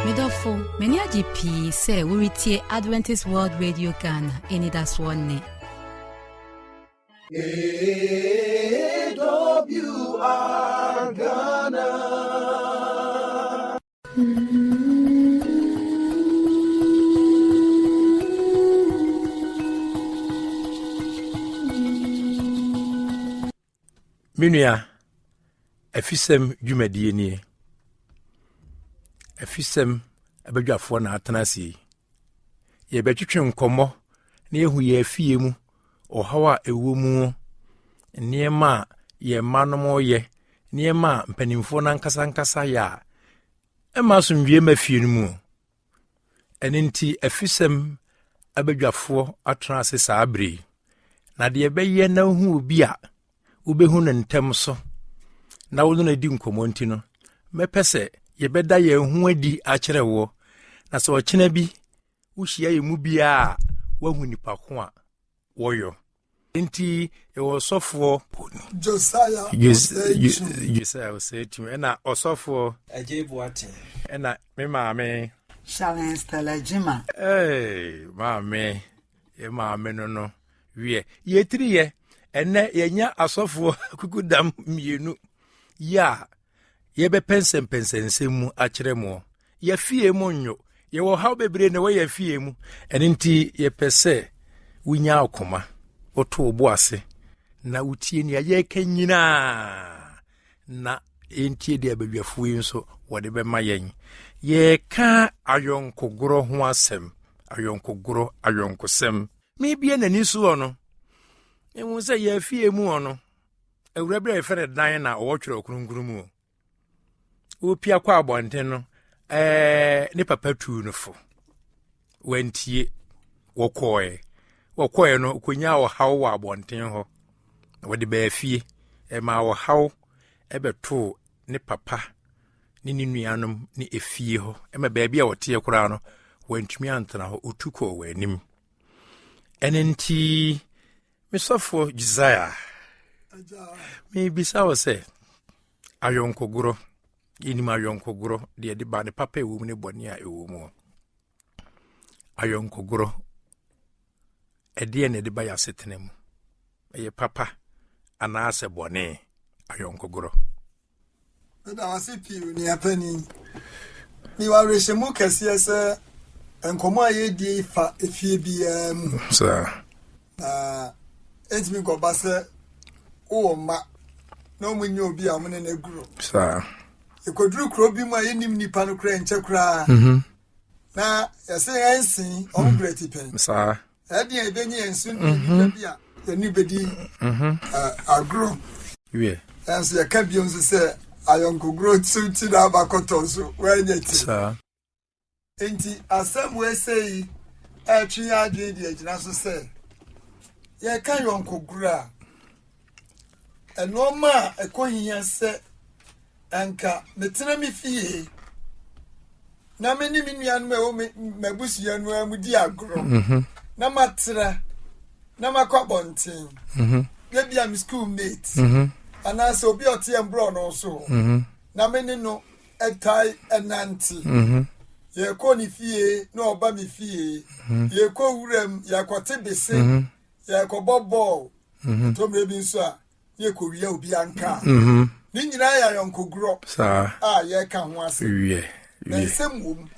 medɔfo m'ani agye pii sɛ woretie adventist world radio ghana anidasoɔ nne AWR Ghana. Me nua, afisɛm dwumadie nie. Afisɛm abadwafoɔ na atena ase yi. Yɛbɛtwetwe nkɔmmɔ na yɛhu yɛn afie mu ɔhaw a ɛwɔ mu nneɛma a yɛn mma no yɛ nneɛma a mpanimfoɔ no ankasa ankasa yɛ a ɛma asomdwoeɛ ma fie no mu Ɛno nti, afisɛm abadwafoɔ atena ase saa bere yi. Na deɛ ɛbɛyɛ na wohu obi a wobɛhu no ntɛm so na wo no na di nkɔmmɔ nti no, mɛpɛ sɛ yɛbɛda yɛn ho adi akyerɛ woɔ na sɛ ɔkyena bi wohyia yɛ mu biara a woahu nipa ko a wɔyɔ nti ɛwɔ ɔsɔfoɔ josiah ɔsɛakyim ɛna ɔsɔfoɔ agye boate ɛna me maame shalin stella gyima hey, maame yɛ maame no no wiɛ yɛtiriyɛ ɛnɛ yɛnya asɔfoɔ kukudam mmienu yɛ a yɛbɛpɛnsɛmpɛnsɛ nsɛm mu akyerɛ mo yɛfie mu nyo yɛwɔ haw bebree na ɛwɔ yɛ fie mu ɛno nti yɛpɛ sɛ wonya ɔkoma woto wo bo ase na wotie nea yɛka nyinaa na ɛntie deɛ badwafoɔ yi nso wɔde bɛma yɛn yɛka ayɔnkogorɔ ho asɛm ayɔnkogorɔ ayɔnkosɛm mebie n'ani soɔ no ɛhu sɛ yɛafie mu ɔ no awura bi a yɛfrɛ no dan na ɔwɔ twerɛ kronkron mu o wopia kɔ abɔnten no ɛɛ ne papa tuu no fo wantie wɔkɔɔɛ wɔkɔɔɛ no kɔnya ɔhaw wɔ abɔnten hɔ wɔde baa fie ɛma ɔhaw ɛbɛtoo ne papa ne ne nuanom ne efie hɔ ɛma baabi a wɔteɛ koraa no wantumi antena hɔ otu kɔɔ wɔn anim ɛne nti Mesɔfoɔ Josiah, mebisa wo sɛ, ayɔnkogorɔ, yɛnim ayɔnkogorɔ, deɛ ɛde ba ne papa ɛwɔ mu ne bɔne a ɛwɔ mu. Ayɔnkogorɔ, ɛdeɛ na ɛde ba yɛ asetena mu. Ɛyɛ papa anaasɛ bɔne ayɔnkogorɔ. Meda wase pii onua panyin. Ni wawerɛhyɛmu kɛseɛ sɛ nkɔmɔ a yɛdie fa efie biara mu. Saa. Na ɛntumi nkɔba sɛ wowɔ mma na wɔn nyɛ obi a wɔn ne no aguro. Saa. Yɛkɔduru kuro bi mu a yɛnim nipa no koraa nkyɛ koraa. Mhm. Na yɛsɛ yɛnsen wɔn mhm. berɛ ti pɛn. Saa. Ɛdeɛn ɛbɛnyi yɛn so ne nnipa bi a yɛne bɛdi agorɔ. Nanso yɛka bio nso sɛ ayɔnkogorɔ so nti na aba kɔtɔ nso woanyɛ ti. Nti asɛm wɔɛsɛ yi ɛtwe yɛ adwene de agyina so sɛ yɛka yɔnkogorɔ a nnoɔma a ɛkɔ hia sɛ anka metena me fie na me ne me nuanom a ɛwɔ m'abusua no ara mu di agorɔ mm-hmm. na matra na makɔ abɔnten mm-hmm. ebi a me school mate mm-hmm. anaasɛ obi a ɔteɛ mborɔ no so na me ne no ɛtae ɛnante yɛkɔ ne fie na ɔba me fie yɛkɔ wuram yɛakɔte bese yɛkɔbɔ bɔɔl mhm. ɔtɔmmerɛ bi nso a ne yɛkɔwia obi ankaa mhm. ne nyinaa yɛ ayɔnkogorɔ a yɛka ho ase na nsɛm wom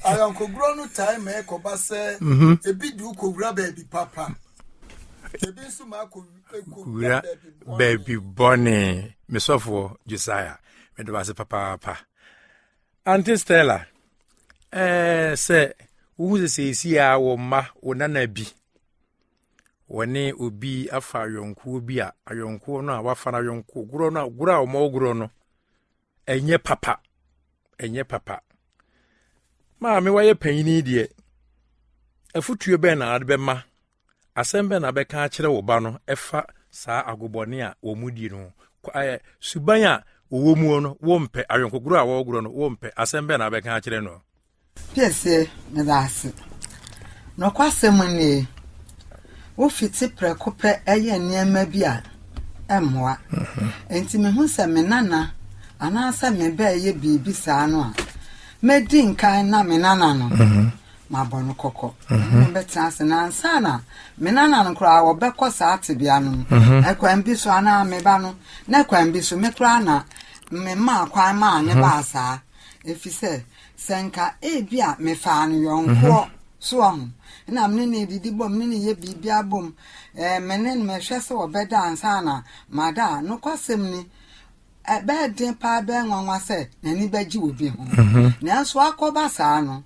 ayɔnkogorɔ no tae ma ɛkɔba sɛ mhm. ebi de wokɔwura baabi papa ebi nso ma akɔwura baabi bɔne mesɔfoɔ josiah mede wase papaapa Auntie Stella, eh, sɛ wohu sɛ seesie a wɔ mma wo nana bi wɔne obi afa ayɔnkoɔ bi a ayɔnkoɔ no a wafa no ayɔnkoɔ gorɔ no a gorɔ a wɔmɔ gorɔ no ɛnyɛ papa ɛnyɛ papa maame wayɛ panyini deɛ afotuo bɛn na ade bɛma Asɛm bɛn na bɛka akyerɛ wo ba no ɛfa saa agobɔne a wɔn di no ayɛ suban a wɔwɔ mu no wɔmpɛ awɛnkogorɔ a wɔgorɔ no wɔmpɛ asɛm bɛn na bɛka akyerɛ no gye sɛ meda ase nɔkwasɛm nie wofiti prɛko pɛ ɛyɛ nneɛma bi a ɛmmoa mhm. nti mehu sɛ me nana anaasɛ mebɛɛyɛ biribi saa no a mɛdi nkan na me nana no mhm. mabɔ no kɔkɔ mhm. mobɛtena ase na ansa na me nana no koraa wɔbɛkɔ saa tebea no mu mhm. ɛkwan bi so anaa meba no na ɛkwan bi so me koraa na memaa kwan maa ne mhm. baa saa ɛfiri sɛ sɛ nka ebi a mefaa no yɔnkoɔ so ɔho na mene ne didi bom ne ne yɛ biribia bom eh, mene no mehwɛ sɛ wɔbɛda ansa na mada a nokwasɛm ni ɛbɛyɛ den paa ɛbɛyɛ nwanwa sɛ n'ani bɛgye obi ho nanso akɔba saa no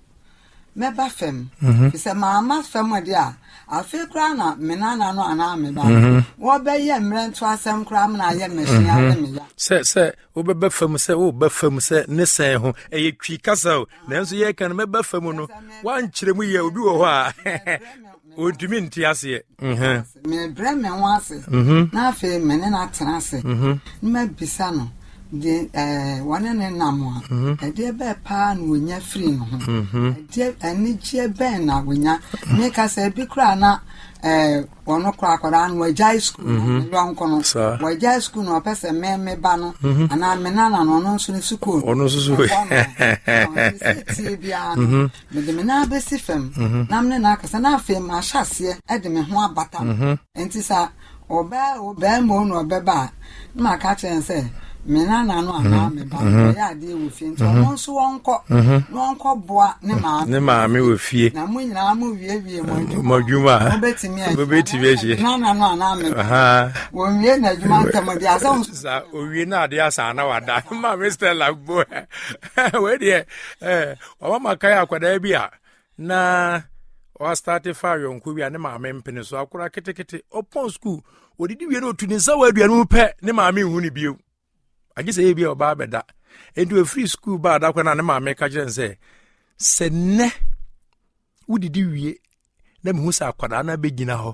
mɛba fam fi sɛ maama fam de a afei koraa na me nana no anaa me ba no wɔbɛyɛ mmerɛ nto asɛm koraa mena ayɛ mmahyia ne meya sɛ sɛ wobɛba fam sɛ woba fam sɛ ne sɛn ho ɛyɛ twi kasa o nanso yɛka no mɛba fam no woankyerɛ mu yɛ obi wɔ hɔ a ɔntumi nte aseɛ mebrɛ me ho ase mhm. na afei me ne no atena ase mhm. na mabisa no de eh, wɔne ne nam a mhm. ɛdeɛ bɛɛ paa na wɔnya firi no ho ɛdeɛ anigyeɛ bɛn na wɔnya meka sɛ ebi koraa na eh, ɔno kora akwadaa no wagyae sukuu no yɔnko no wagyae sukuu no ɔpɛ sɛ me me ba no anaa me nana no ɔno nso ne sukuu ɔno nso so tie biara no Mede me nan abɛsi fam na me ne no akasa, na afei mahyɛ aseɛ de me ho abata no. Enti sɛ ɔbaa o, barima o na ɔbɛba a, na maka akyerɛ no sɛ me nana no anaa me ba no ɔyɛ adeɛ wɔ fie nti ɔno nso ɔnkɔ na ɔnkɔboa ne maame. Ne maame wɔ fie. Na mo nyinaa mo wiewie mo adwuma. Mo adwuma. Mobɛtumi ahyia. Mobɛtumi ahyia. Me nana no anaa me ba. Wɔnwie n'adwuma ntɛm deɛ asɛ nso. Sa owie na adeɛ asa na wada. Maame Stella bo wei deɛ. Ɔma makae akwadaa bi a na ɔastarte fa yɔnko bi a ne maame mpene so akora ketekete ɔpɔn sukuu ɔdidi wie no ɔtu ne nsa wɔ aduane mu pɛ ne maame nhu ne bio agye sɛ yɛbi a ɔbaa bɛda ɛnti ɔfiri sukuu baa da kɔ no a ne maame ka kyerɛ n sɛ sɛ nnɛ wodidi wie na mehu sɛ akwadaa no abɛgyina hɔ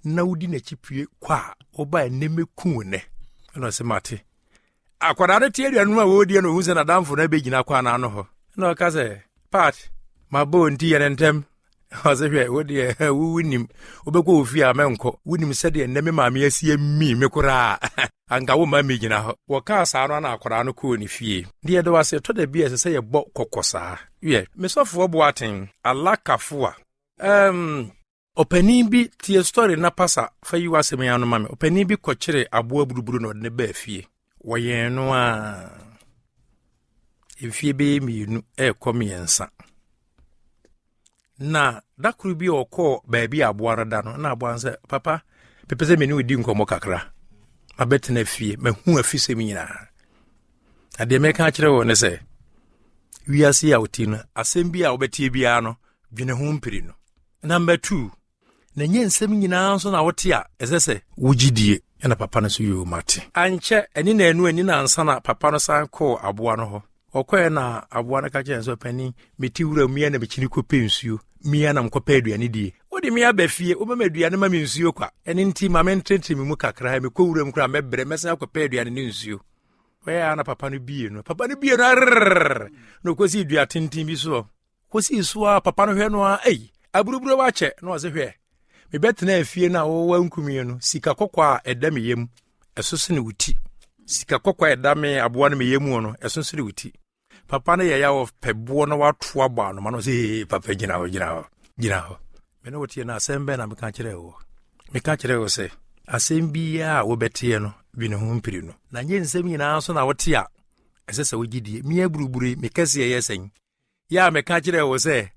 na wodi n'akyi pue kɔ a wobae nnɛ mɛku wo nnɛ ɛna ɔsɛ mate akwadaa no te aduanom a wɔredie no ɔhu sɛ nadamfo no abɛgyina kɔ anaa no hɔ na ɔka sɛ pat mabɔ wo nti yɛ ne ntɛm ɔsɛ hwɛ wodeɛ wonim wobɛkɔ ofie a mɛnkɔ wonim sɛdeɛ nnɛ me maame asie mii me koraa anka womma migyina hɔ. Wɔkaa saa no ana akwadaa no kɔɔ ne fie. Deɛ yɛda wo ase, ɛtɔ da bi a ɛsɛ sɛ yɛbɔ kɔkɔ saa. Wiɛ, me sɔfoɔ Boateng, Allah Kafua. Ɛɛm. Ɔpanin bi tie story na pasa fa yi w'asɛm yi ano ma me. Ɔpanin bi kɔkyeree aboa buruburu na ɔde no baa fie. Wɔyɛn no a mfie bɛyɛ mmienu ɛrekɔ mmiɛnsa. na da koro bi ɔkɔɔ baabi a aboa no da no na aboa no sɛ papa pepɛ sɛ mene ɔdi nkɔmmɔ kakra mabɛtena fie mahu afisɛm nyinaa na deɛ mɛka akyerɛ wɔ ne sɛ wiase a woti no asɛm bi a wobɛteɛ biara no dwene ho mpiri no na mbɛtuu na ɛnyɛ nsɛm nyinaa nso na wote a ɛsɛ sɛ wogye die ɛna papa no so yoo mate ankyɛ ɛne na ɛnu ani na ansa na papa no san kɔɔ aboa no hɔ ɔkɔɛ na aboa no ka kyerɛ nso panin mete wura mmea na mekyini kɔpɛ nsuo mmea na mekɔpɛ aduane die wode me aba fie wobɛma aduane ma me nsuo kwa ɛne nti ma mententere me mu kakra mekɔ wuram koraa mɛbrɛ mɛsan akɔpɛ aduane ne nsuo wɔyɛ a na papa no bie no papa no bie no arrr na ɔkɔsi dua tenten bi soɔ kosii so a papa no hwɛ no a ei aburuburo wakyɛ na ɔse hwɛ mebɛtena afie no a wɔwɔ nkumie no sika kɔkɔ a ɛda me yam ɛso sene wo ti sika kɔkɔ a ɛda me aboa no me yam no ɛso sene wo ti papa no yɛyɛ wɔ pɛ boɔ na wato abɔ anoma no sɛ ee papa gyina hɔ gyina hɔ gyina hɔ me ne woteɛ no asɛm bɛn na meka kyerɛ wo meka kyerɛ wo sɛ asɛm biara a wobɛteɛ no bi ne ho mpiri no na nyɛ nsɛm nyinaa so na wote a ɛsɛ sɛ wogye die meaburubure mekɛseɛ yɛ sɛn yɛ a meka kyerɛ wo sɛ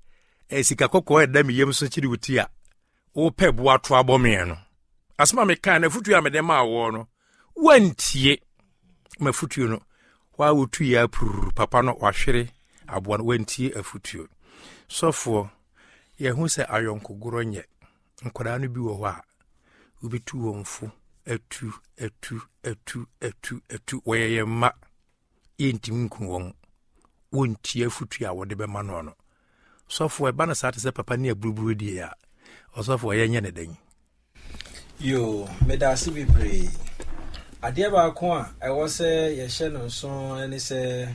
eh, sika kɔkɔɔ ɛda me yam so kyere wo ti a wopɛ boa to abɔ meɛ no asɛm a mekaa no afotuo a mede maa woɔ no woantie mafotuo no hɔ a wotuiɛ apururu papa no wahwere aboa no woantie afotuo sɔfoɔ yɛhu sɛ ayɔnkogorɔ nyɛ nkwadaa no bi wɔ hɔ a wobɛtu wɔn fo atu atu atu atu atu wɔyɛ yɛn mma yɛntumi nku wɔn wɔntie afotu a wɔde bɛma no no sɔfoɔ ɛba no saa te sɛ papa ne aburuburo die a ɔsɔfoɔ yɛnyɛ ne dɛn yo meda ase bebree adeɛ baako a ɛwɔ sɛ yɛhyɛ no nso ne sɛ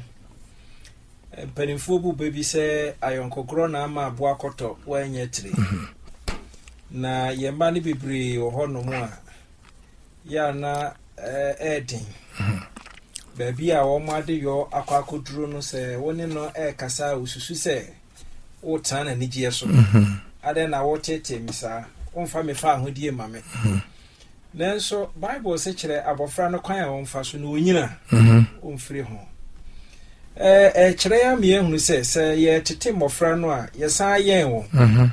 mpanimfoɔ bu bɛ bi sɛ ayɔnkɔkorɔ na ama aboa kɔtɔ wɔanyɛ tiri mhm. na yɛn mma no bebree wɔ hɔ nom a yɛ a na ɛyɛ den. Baabi a wɔn adeyɔ akɔ akɔduro no sɛ wo ne no ɛrekasa a wosusu sɛ wotena n'anigyeɛ so. Adɛn na wotetee me saa? Womfa me fa ahodie ma me. Nanso Bible se kyerɛ abɔfra no kwan a wɔmfa so na ɔnyina ɔmfiri ho. Ɛkyerɛ yɛ ameɛ hunu sɛ sɛ yɛtete mmɔfra no a yɛsan yɛn wɔn.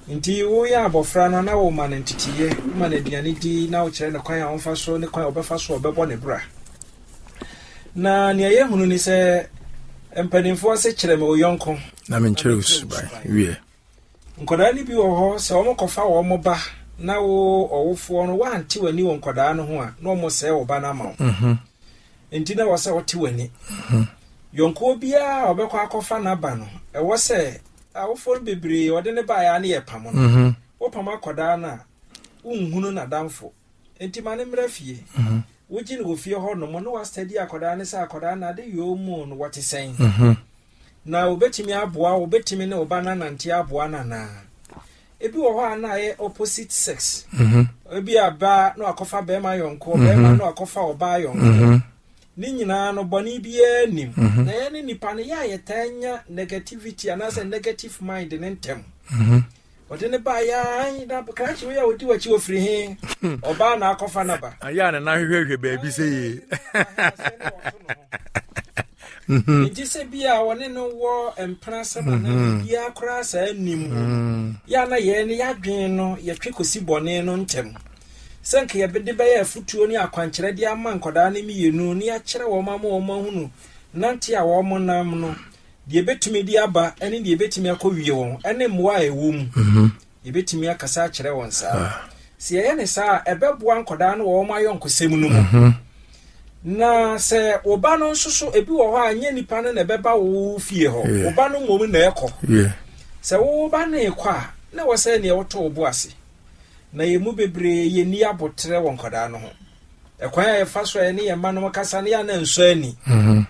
Enti woyɛ abɔfra no na woma no nteteeɛ, woma no aduane di na wokyerɛ no kwan a ɔmfa so ne kwan a ɔbɛfa so a ɔbɛbɔ ne bra. Na nea yɛahunu ne sɛ mpanimfoɔ se kyerɛ me wo yɔnko. Na menkyerɛ wo suban wiɛ. Nkwadaa no bi wɔ hɔ sɛ wɔkɔfa wɔn ba na wo ɔwofoɔ no woante w'ani wɔ nkwadaa no ho a na wɔsɛe wo ba no ama wo. Mhm. Enti na ɛwɔ sɛ wote w'ani. Mhm. Yɔnkoɔ biara a ɔbɛkɔ akɔfa n'aba no ɛwɔ sɛ Awofo no bebree wɔde no baeɛ ara ne yɛpam no. Wopam akwadaa no a, wonhunu n'adamfo. Enti ma no mmra fie. Wogye no wɔ fie hɔ nom na wɔastadi akwadaa no sɛ akwadaa no ade yɔɔ mu no wɔte sɛn. Na wɔbɛtumi aboa wo, wobɛtumi ne wo ba no anante aboa no anaa. Ebi wɔ hɔ a na ayɛ opposite sex. Ebi a baa na wakɔfa bɛrima yɔnko, bɛrima na wakɔfa ɔbaa yɔnko. Ne nyinaa no, bɔne biara nnim. Mhm. Na yɛne nipa no yɛ a yɛtaa nya negativity anaasɛ negative mind ne ntɛm. Mhm. Ɔde ne baa yɛn na krakye wei a ɔdi w'akyi ɔfiri he hmm. ɔbaa na akɔfa no ba. Ayɛ a ne nan hwehwɛhwɛ baabi sɛ yie. Mhm. nti sɛ bi a wɔne no wɔ mpena sɛm mhm. anaa biaa koraa saa nnim mhm. yɛ na yɛn no yɛadwen no yɛtwe kɔsi bɔne no ntɛm sɛ nka yɛbede bɛyɛ afotuo ne akwankyerɛ de ama nkwadaa no mmienu ne akyerɛ wɔn ama wɔn ahunu nante a wɔn nam no, deɛ ɛbɛtumi de aba ne deɛ ɛbɛtumi akɔ wie wɔn ne mmoa a ɛwɔ mu. Mhm. Yɛbɛtumi akasa akyerɛ wɔn saa. Ah. Sɛ yɛyɛ ne saa a, ɛbɛboa nkwadaa no wɔ wɔn ayɔnkosɛm no mu. Mhm. na sɛ wo ba no nso so ebi wɔ hɔ a nyɛ nipa no na ɛbɛba wo fie hɔ wo ba no mmom na ɛkɔ sɛ wo ba no ekɔ a na wɔ sɛ neɛ woto wo bo ase na yɛn mu bebree yɛn ani aboterɛ wɔ nkwadaa no ho. Ɛkwan a yɛfa so a yɛne yɛn mma no kasa no yɛ ana nsɔ ani. Mhm.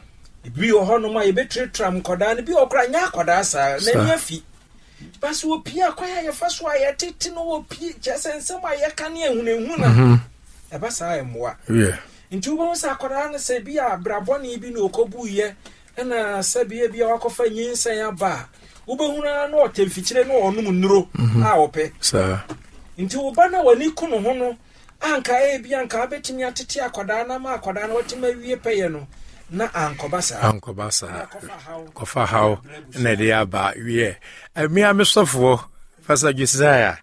Ebi wɔ hɔnom a yɛbɛtratiram nkwadaa no, bi wɔ kora nyɛ akwadaa saa, n'ani afi. Ba sɛ wɔpie a, kwan a yɛfa so a yɛtete no wɔpie, kyerɛ sɛ nsɛm a yɛka ne ahunahu no mhm. ɛba saa ɛmmoa. Nti wobɛhu sɛ akwadaa no sɛ bi a brabɔne bi na ɔkɔbuiɛ Ɛna sɛ bia bia wakɔfa nyinsɛn aba a wobɛhunu ara no ɔtɛ mfikyire no ɔnom nnuro mhm. a ɔpɛ nti wo ba no a w'ani ko no ho no anka ebi anka abɛtumi atete akwadaa no ama akwadaa no watumi awie pɛyɛ no na ankɔba saa ankɔba saa kɔfa haw na ɛde aba wiɛ mmea me sɔfoɔ fasa josiah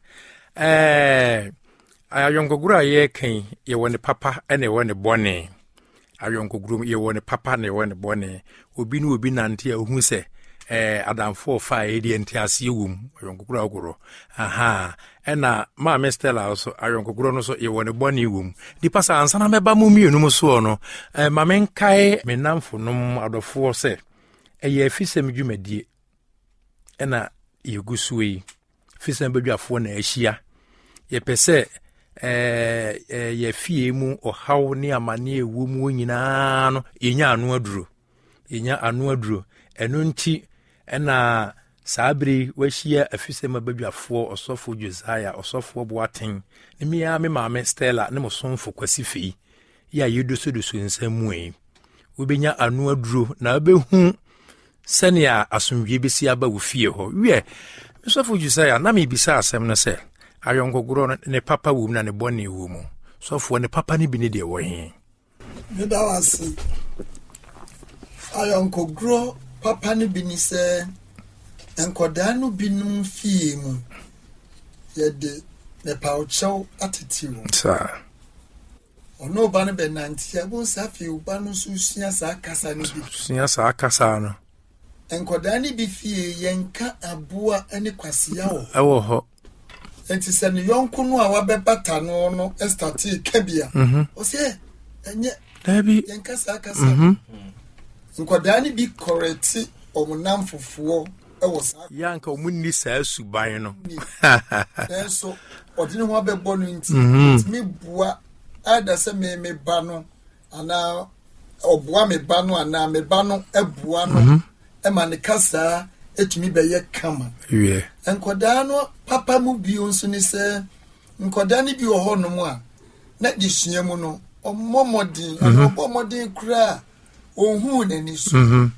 ɛɛ Ayɔnkogoro a yɛreka yi, yɛwɔ ne papa na yɛwɔ ne bɔne. Ayɔnkogoro mu, yɛwɔ ne papa na yɛwɔ ne bɔne. Obi ne obi nante a ohu sɛ ɛɛ adamfo ɔfa a yɛde nte aseɛ wɔ mu ayɔnkogoro agorɔ aha ɛna maame stella nso ayɔnkogoro no so yɛwɔ ne bɔne wɔ mu nipa sɛ ansana mɛba mo mmienu mu soɔ no ɛɛ ma menkae me namfo nom adɔfoɔ sɛ ɛyɛ afisɛm dwumadie ɛna yɛgu soɔ yi fisɛ badwafoɔ na ahyia yɛpɛ sɛ eh, eh, yɛfie mu ɔhaw ne amanneɛ ɛwɔ mu nyinaa no yɛnya ano aduro yɛnya ano aduro ɛno nti ɛna saa bere wahyia afisɛm abadwafoɔ ɔsɔfo josiah ɔsɔfoɔ boaten ne mea me maame stella ne mo somfo kwasi fei yi a yɛdosodoso nsɛm mu yi wobɛnya ano aduro na wobɛhu sɛnea asomdwoe bɛsi aba wo fie hɔ wiɛ mesɔfo josiah na mebisa asɛm no sɛ ayɔnkogorɔ no ne papa wɔ mu na ne bɔne wɔ mu sɔfoɔ ne papa no bi ne deɛ wɔ he meda wo ase ayɔnkogorɔ papa no bi ne sɛ nkɔdaa no binom fie mu yɛde mepawkyɛw atete wɔ saa Ɔne wo ba no bɛnante a, bohu sɛ afei wo ba no nso sua saa kasa no bi. Sua saa kasa no. Nkwadaa no bi fie yɛnka aboa ne kwasia wɔ hɔ. Ɛwɔ hɔ. Nti sɛ ne yɔnko no a wabɛbata no no ɛstatee ka bi a, mhm. ɔsɛ ɛnyɛ dabi yɛnka saa kasa. Mhm. Nkwadaa no bi kɔrɛte wɔn namfofoɔ. wɔ saa yɛ anka wɔn nni saa suban no nanso ɔde ne ho abɛbɔ no nti ɛtumi mhm. boa ɛda sɛ me me ba no anaa ɔboa me ba no anaa me ba no ɛboa no mhm. ɛma ne kasaa ɛtumi bɛyɛ kama nkɔdaa no papa mu bio nso ne sɛ nkɔdaa no bi wɔ hɔnom a na de sua mu no ɔmmɔ mmɔden mhm. ɔbɔ mmɔden koraa ɔnhuu n'ani so. Mhm.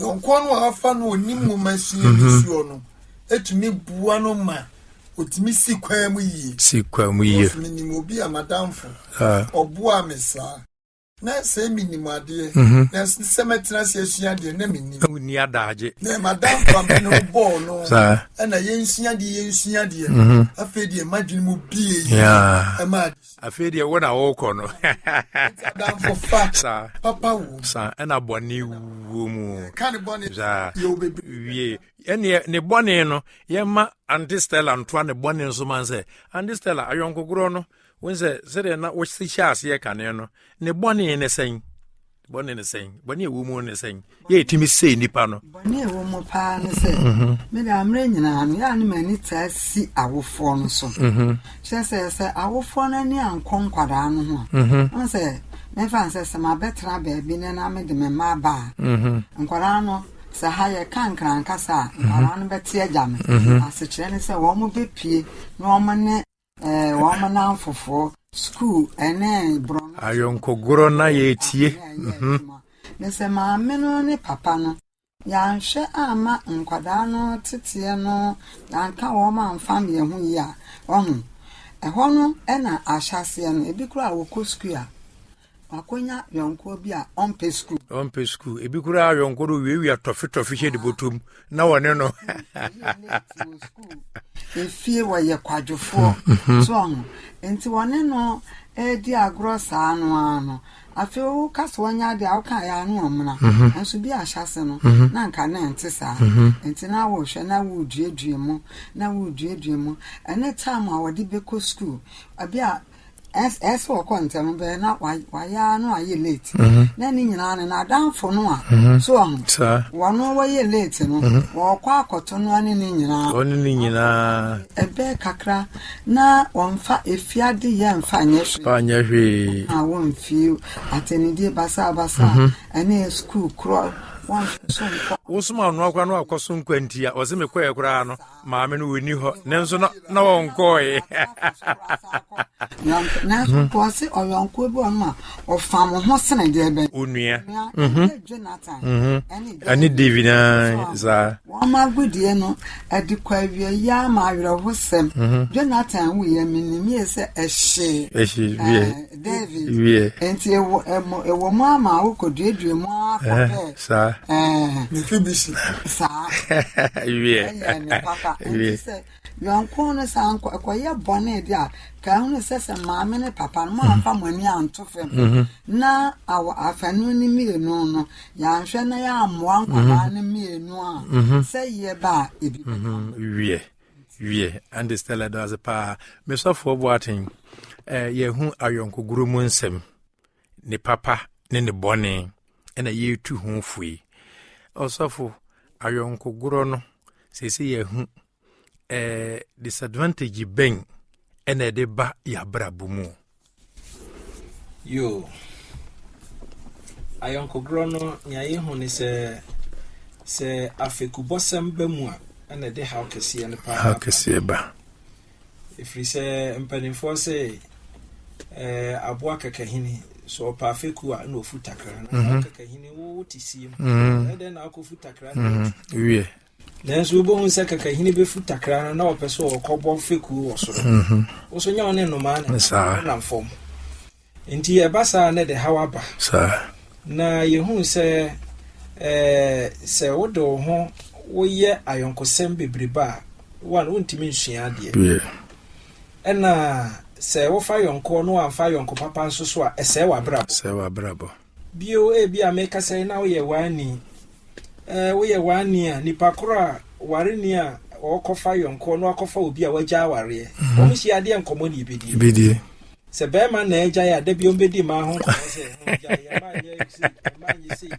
Yɔnkoɔ no a afa no ɔnim nwoma sua mhm. ne suo no ɛtumi boa no ma ɔtumi si kwan mu yie. Si kwan mu yie. Ɔsumi nim obi a madamfo. Ah. Ɔboa me saa. Na sɛ menim adeɛ. Mhm. Na sɛ mɛtena sɛ asua adeɛ na menim. Wonni adagye. Na madamfo a mene bɔɔl no. Saa. Ɛna yɛnsua deɛ yɛnsua deɛ. Afei deɛ madwene mu bie yie. Ɛma afei deɛ wo na wokɔ no saa papa wo saa ɛna bɔne wuo mu saa wie ɛneɛ ne bɔne no yɛma ante stella ntoa ne bɔne nso man sɛ ante stella ayɔnkogorɔ no wo sɛ sɛdeɛ na wohyɛ aseɛ kane no ne bɔne ne sɛn bɔne ne sɛn bɔne ɛwɔ mu ne sɛn yɛ ɛtumi sɛe nnipa no bɔne ɛwɔ mu paa ne sɛ mhm. mede amerɛ nyinaa no yɛa ne m'ani taa si awofoɔ no so mhm. kyerɛ sɛ sɛ awofoɔ no ani ankɔ nkwadaa no ho a mhm. ɔn sɛ mɛfa n sɛ sɛ mabɛtena baabi ne na mede me mma aba a nkwadaa no sɛ ha yɛka nkrankasa a nkwadaa no bɛte agya no asekyerɛ ne sɛ wɔn bɛpie na wɔn ne ayɔnkogorɔ na yɛretie mhm. ne sɛ maame no ne papa no yɛanhwɛ amma nkwadaa no teteɛ no yɛanka wɔn amfa mmeɛ ho yi a ɔho ɛhɔ no ɛna ahyɛseɛ no ebi koraa wɔkɔ sukuu a Wakonya yɔnkoɔ bi a ɔmpɛ sukuu. Ɔmpɛ sukuu. Ebi koraa yɔnko no wiawia tɔfetɔfe hyɛ ne bɔtɔm na wɔne no. Efie wɔyɛ kwadwofoɔ hmm. so ɔho. Nti wɔne no ɛredi agorɔ saa no ara no. Afei woka sɛ wɔnyɛ adeɛ a woka yɛ ano ɔmena. Mhm. Nanso bi ahyɛ ase no mhm. na nka na ɛnte saa. Mhm. Nti na wɔhwɛ na woreduadua mu na woreduadua mu. Ɛne tam a wɔde bɛkɔ sukuu. Ebi a ɛsɛ wɔkɔ ntɛm bɛyɛ na wayɛ ara na wayɛ late mhm. na ne nyinaa no n'adanfo no a mhm. so ɔho wɔn wɔyɛ late no mhm. wɔkɔ akɔto no ne ne nyinaa wɔn ne nyinaa ɛbɛɛ kakra na wɔmfa efiade yɛ mfa nyɛ hwee fa nyɛ hwee a wɔmfi atɛnidie basabasa ɛne sukuu korɔ wɔmfi so nkɔ. wosoma ɔno akora no akɔ so nkwa nti a ɔse mekɔɛ koraa no maame no wɔni hɔ nanso na na wɔnkɔɔe nyankopɔn se ɔyɔnkoɔ bi ɔnom a ɔfa mo ho sene deɛ bɛn onua mhm. jonathan mhm. ɛne david saa wɔma agodie no ɛde kɔ awia yi ama awerɛhosɛm mhm. jonathan wuyɛ menim yie sɛ ɛhyee ɛhyee David. Wiɛ. Nti ewo emo ewo mo ama awo koduadua mu ara kɔ eh, dɛ. Saa. Ɛɛ. Mefi bi si. Saa. Wiɛ. Ɛnyɛ ne papa. Wiɛ. Nti sɛ yɔnko no sɛ ankɔ ɛkɔyɛ bɔne de a ka ehunu sɛ sɛ maame ne papa no mo anfa mo ani anto fam mhm. na awɔ afanu ne mmienu no yɛanhwɛ na yɛammoa nkwadaa mhm. no mmienu a mhm. sɛ yie ba a ebi bɛka. Wiɛ. wiɛ ɛnde stella da ase paa mesɔfoɔ boaten eh, yɛhu ayɔnkogoro mu nsɛm ne papa ne ne bɔne ɛna yɛtu ho fue ɔsɔfo ayɔnkogorɔ no sɛsɛ yɛhu eh, disadvantage bɛn ɛna ɛde ba yɛ abrabɔ mu Yoo. Ayɔnkogorɔ no, nea yehu ne sɛ, sɛ afekubɔsɛm ba mu a, ɛna ɛde haw kɛseɛ no paa. Haw kɛseɛ ba. Ɛfiri sɛ mpanimfoɔ sɛ eh, aboa kakahini sɛ ɔpa afeku a na ɔfu takra na mhm. kakahini wote sie mu mhm. ɛdɛn na akɔfu takra no mhm. wiɛ Nanso wubehu sɛ kakahini befu takra no na ɔpɛ sɛ ɔkɔbɔ fekuw wɔ soro. Mhm. Wo so nyɛ wo ne nnomaa na ɛnam fam. Enti ɛba saa na ɛde haw aba. Na yehu sɛ sɛ wode wo ho woyɛ ayɔnkosɛm bebrebe a, one, wontumi nsua adeɛ. Ɛna sɛ wofa yɔnkoɔ na wamfa yɔnko papa nso so a, ɛsɛe w'abrabɔ. Bio, ebia meka sɛ na woyɛ waani. Ɛɛ, woyɛ waani a, nipa koro a ware ni a ɔrekɔfa yɔnkoɔ na wakɔfa obi a wagya awareɛ. Mhm. Wɔn hyia adeɛ nkɔmmɔ ne ebedie. Ebedie. Sɛ bɛrima na agyae a, da bi wɔn bɛdi mmaa ho nkɔmmɔ sɛ ɛho agyae, ɛmaa nyɛ sei, ɛmaa nyɛ sei.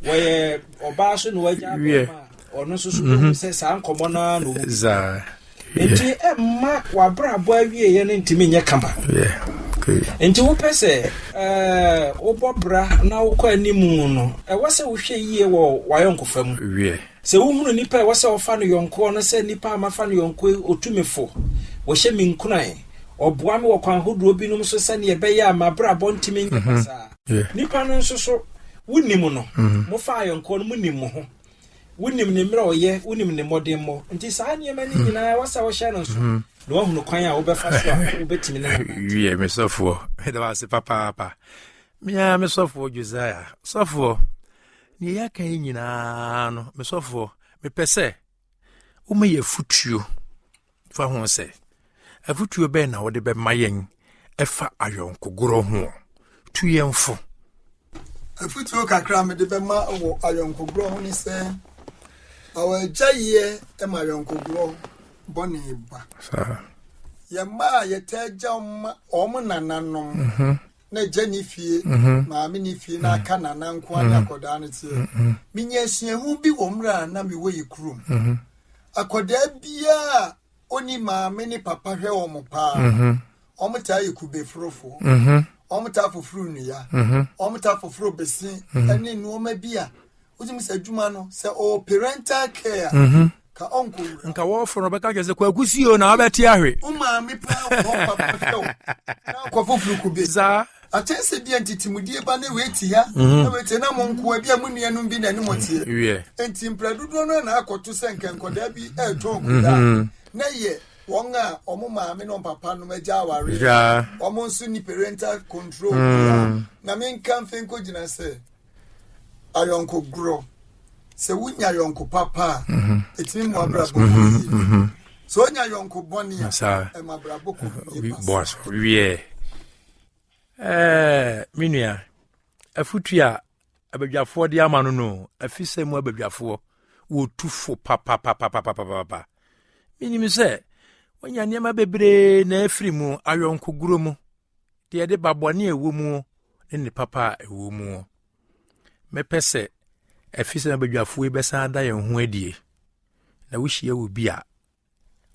Wɔyɛ ɔbaa so na wagya bɛrima a. ɔno nso so bɛhu sɛ saa nkɔmmɔ no ara na ɔmu nti ɛmma w'abrabɔ awieɛ no ntumi nyɛ kama nti wopɛ sɛ eh, wobɔ bra na wokɔ animu no ɛwɔ sɛ wohwɛ yie wɔ w'ayɔnkofa mu sɛ wohunu nnipa ɛwɔ sɛ wɔfa no yɔnkoɔ no sɛ nnipa a mafa no yɔnkoɔ ɔtumifo wɔhyɛ me nkuran ɔboa me wɔ kwan hodoɔ binom so sɛdeɛ ɛbɛyɛ a mabrabɔ ntumi nyɛ mhm. saa nnipa no nso so wonim no mhm. mofa ayɔnkoɔ no monim mo ho Wonim ne mmerɛ a ɔyɛ, wonim ne mmɔdemmɔ, nti saa nneɛma no nyinaa ɛwɔ sɛ wohyɛ no nso hmm. na woahunu kwan a wobɛfa so a wobɛtumi ne wiɛ me sɔfoɔ meda wo ase papaapa meaa me sɔfoɔ josiah sɔfoɔ neɛ yɛaka yi nyinaa no me sɔfoɔ mepɛ sɛ woma yɛ afotuo fa ho sɛ afotuo bɛn na wode bɛma yɛn ɛfa ayɔnkogorɔ ho tu yɛn fo afotuo kakra mede bɛma wɔ ayɔnkogorɔ ho ne sɛ awɔagyayeɛ ma ayɔnkogorɔ bɔne ba yɛma a yɛtaa gya ma ɔm nananom mhm. na agya ne fie mhm. maame ne fie na aka nana nkoa ne mhm. akɔdaa no teɛ menya asuahu bi wɔ mmerɛ a na mewɔ yɛ kurom Akwadaa biara a ɔni maame ne papa hwɛ wɔn paa. Mhm. Wɔn taa yɛ kube forofoɔ. Mhm. Wɔn taa foforo nnua. Mhm. Wɔn taa foforo bese ne nneɛma bi a wotumi sɛ adwuma no sɛ ɔwɔ parental care a. Ka ɔnkɔ wura. Nka wɔforo no bɛka kyerɛ sɛ kwaku si o na wabɛte ahwe. Wo maame paa wɔ hɔ papa hwɛ o. Na ɔkɔ foforo kube. Saa. Akyɛn sɛ bia ntitimudie ba ne wei te ha mhm. na wei te na mo nkoa bia mo nuanom bi na ne mo teɛ mhm. nti mprɛ dodoɔ no na akɔto sɛ nka nkɔdaa bi ɛretɔn kodaa mhm. na yɛ wɔn a wɔn maame na wɔn papa nom agya aware wɔn nso ni parental control mm. na me nka mfe nko gyina sɛ ayɔnko gorɔ sɛ wonya ayɔnko papa a ɛtumi mu abrabɔ yie sɛ wonya ayɔnko bɔne a ɛma abrabɔ kɔ yie pasa Eh, me nua afutu a abadwafoɔ de ama no no afi sɛ mu abadwafoɔ wɔtu fo papapapapapapa menim sɛ wanya nneɛma bebree na afiri mu ayɔnkoguro mu deɛ de ba bɔne a ɛwɔ mu ne ne papa a ɛwɔ mu mɛpɛ sɛ afi sɛ abadwafoɔ yi bɛsan ada yɛn ho adie na wohyia wɔ bi a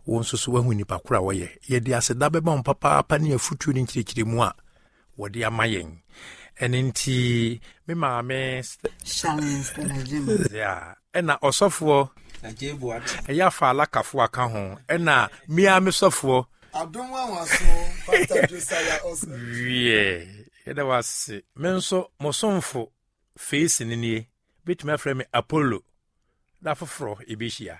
wo nso so woahu nnipa koro a wɔyɛ yɛde aseda bɛma wɔn papaapa ne afutuo ne nkyerɛkyerɛmu a wɔde ama yɛn ɛne nti me maame ɛna ɔsɔfoɔ ɛyɛ afa alakafoɔ aka ho ɛna mea me sɔfoɔ wiɛ yɛda wase me nso mosomfo feesi no nie bɛtumi afrɛ me apollo da foforɔ ɛbɛhyia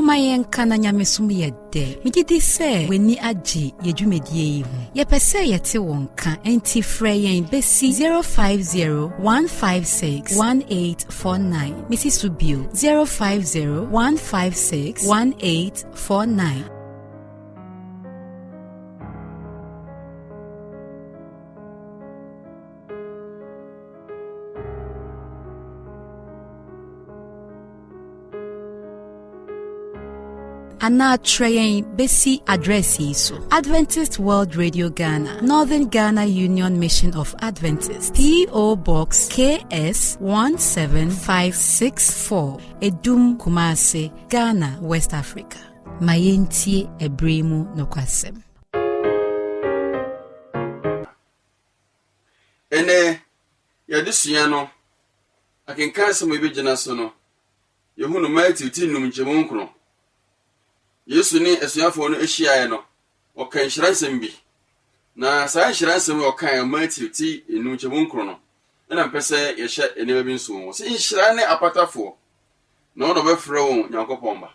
momma yɛnka na nyamesom yɛ dɛ megye di sɛ w'ani agye yɛ dwumadie yi ho yɛpɛ sɛ yɛte wo nka enti frɛ yɛn bɛsi 0501561849 mesi so bio 0501561849 anaa kyerɛ yɛn bɛsi adrɛs yi so adventist world radio ghana northern ghana union mission of adventist po box ks 17564 edum kumase ghana west africa Ma yentie ɛbere yi mu nokwasɛm. Ɛnɛ, yɛadesua no akenkan asɛm a yɛbɛgyina so no, yɛhu no Matthew ti nnum nkyɛmu nkron. Yesu ne asuafoɔ no hyiaeɛ no, ɔka nhyira nsɛm bi. Na saa nhyira nsɛm a ɔkaeɛ Matthew ti nnum nkyɛmu nkron no, ɛna mpɛ sɛ yɛhyɛ nneɛma bi nso wɔ ho. Sɛ nhyira ne apatafoɔ, na wɔn na wɔbɛfrɛ wɔn Nyankopɔn ba.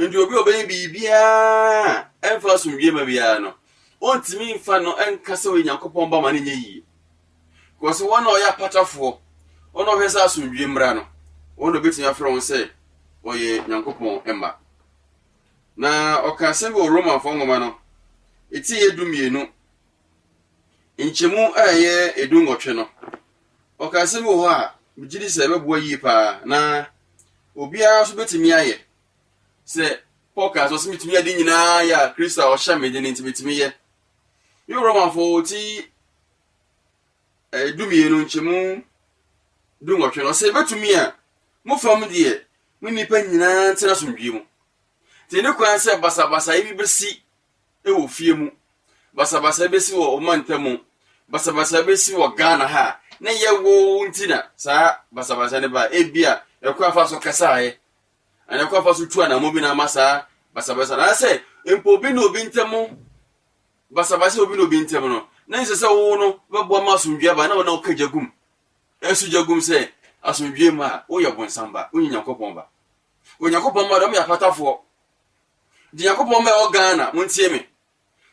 Enti obi a ɔbɛyɛ biribiara a ɛmfa asomdwoe mma biara no, ontumi mfa no nka sɛ ɔyɛ Nyankopɔn ba ma no nyɛ yie. Kɔse wɔn a ɔyɛ apatafoɔ, wɔn a ɔhwɛ sɛ asomdwoe mmra no, wɔn na obetumi afrɛ wɔn sɛ ɔyɛ Nyankopɔn mma. Na ɔka asɛm bi wɔ Romanfoɔ nwoma no, ɛti yɛ du mmienu, nkyɛmu a ɛyɛ edu nwɔtwe no. Ɔka nsɛm bi wɔ hɔ a megye di sɛ ɛbɛboa yie paa, na obiara nso bɛtumi ayɛ. Sɛ Paul kaa sɛ ɔsɛ metumi ade nyinaa yɛ a Kristo a ɔhyɛ me de no nti metumi yɛ. Me wɔ Romafo ti eh, dumienu nkyɛmu du nwɔtwe no ɔsɛ bɛtumi a mo fam deɛ mo nnipa nyinaa ntena asomdwie mu. Nti ne kwan sɛ basabasayɛ bi bɛsi wɔ fie mu, basabasa bɛsi wɔ ɔmantam mu, basabasa bɛsi wɔ Ghana ha a, ne yɛwo nti na saa basabasa no baa. Ebi a ɛkɔ afa so kasaeɛ, anaa ɛkɔ afa so tu anamɔ bi na ama saa basabasa no. Anaasɛ mpo obi ne obi ntam basabasa obi ne obi ntam no, na nsɛ sɛ wo no bɛboa ma asomdwoeɛ aba na wo na woka gya gum, ɛso gya gum sɛ asomdwoeɛ mu a woyɛ bonsam ba, wonyɛ Nyankopɔn ba. Onyankopɔn mma deɛ wɔyɛ apatafoɔ. Nti Nyankopɔn mma ɛwɔ Ghana montie me,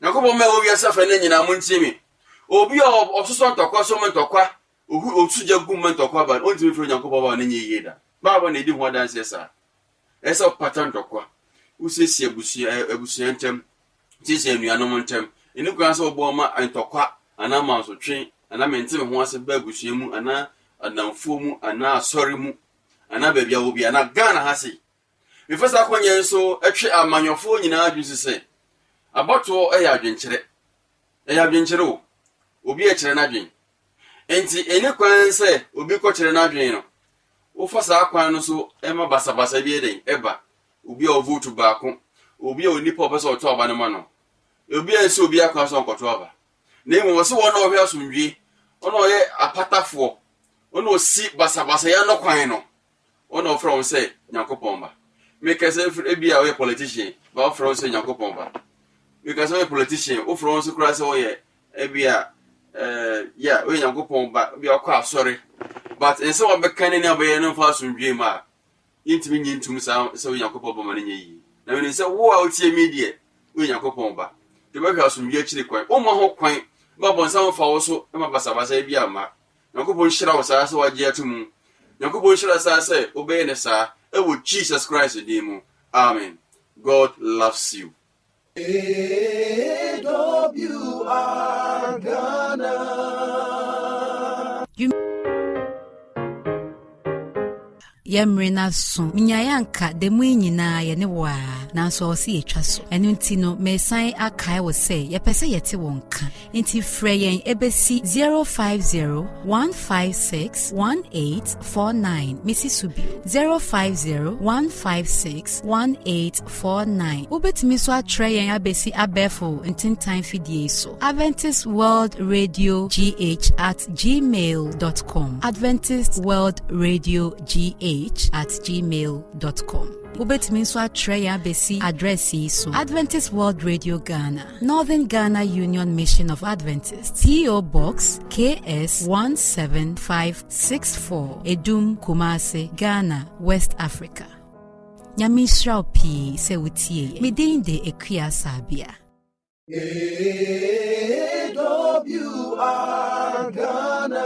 Nyankopɔn mma ɛwɔ wiase afɛ no nyinaa montie me. Obi a ɔsosɔ ntɔkwa so ma ntɔkwa ohu osu gya gu ma ntɔkwa ba no, ɔntumi mfiri Onyankopɔn ba ne nyɛ yie da. Bible na ɛdi ho adanseɛ saa. Ɛyɛ sɛ ɔpata ntɔkwa, wosiesie abusua abusua ntam, siesie anuanom ntam. Ɛni kwan sɛ ɔbɔ ma ntɔkwa anaa mansotwe anaa mente me ho ase ba abusua mu anaa anamfoɔ mu anaa asɔre mu anaa baabi a wɔ bi anaa Ghana ha sei. Mefa saa kwan yi nso twe amanyɔfoɔ nyinaa adwene si sɛ, abatoɔ yɛ adwenkyerɛ. Ɛyɛ adwenkyerɛ o, obi rekyerɛ n'adwene. Enti ɛni kwan sɛ obi kɔkyerɛ n'adwene no, wofa saa kwan no so ma basabasa bi dɛn ɛba. Obi a ɔvotu baako, obi a onipa a ɔpɛ sɛ ɔtɔ aba no ma no, obi a nsi obiara kwan sɛ ɔnkɔtɔ aba. Na mmom wɔse wɔn a ɔhwɛ asomdwie, wɔn a ɔyɛ apatafoɔ, wɔn a ɔsi basabasayɛ ano kwan no, Wo na wɔfrɛ wo sɛ Nyankopɔn ba. Meka sɛ fr ebia woyɛ politician, but wɔfrɛ wo sɛ Nyankopɔn ba. Meka sɛ woyɛ politician, wofrɛ wo nso koraa sɛ woyɛ ebia eh, yeah, woyɛ Nyankopɔn ba, ebia wokɔ asɔre. But nsɛm a wobɛka ne nea wobɛyɛ no mfa asomdwoe mma a, yɛntumi nye ntom saa sɛ woyɛ Nyankopɔn ba ma no nyɛ yie. Na menim sɛ wo a wotie me deɛ, woyɛ Nyankopɔn ba. Nti wobɛhwɛ asomdwoe akyiri kwan. Womma ho kwan ma bɔnsam mfa wo so ma basabasa ebia mma. Nyankopɔn nhyira wo saa sɛ wagye ato mu. Nyankopɔn nhyira saa sɛ wobɛyɛ no saa ɛwɔ Jesus Christ din mu. Amen. God loves you. AWR Ghana. yɛ mmere no aso menyaeɛ anka da mu yi nyinaa yɛne wo a nanso ɔwɔ sɛ yɛtwa so ɛno nti no mesan akae wo sɛ yɛpɛ sɛ yɛte wo nka nti frɛ yɛn ɛbɛsi 0501561849 mesi so bio 05015618 49. Wobɛtumi nso atrɛ yɛn abɛsi abɛɛfo ntentan fidie yi so. Adventist World Radio GH at gmail.com. Adventist World Radio GH at gmail.com. Wobɛtumi nso atrɛ yɛn abɛsi adrɛs yi so. Adventist World Radio Ghana, Northern Ghana Union Mission of Adventists, P.O. Box KS 17564, Edum, Kumasi, Ghana, West Africa. Nyame nhyira wo pii sɛ wotie yɛ. Me din de Akua Sabea. AWR Ghana.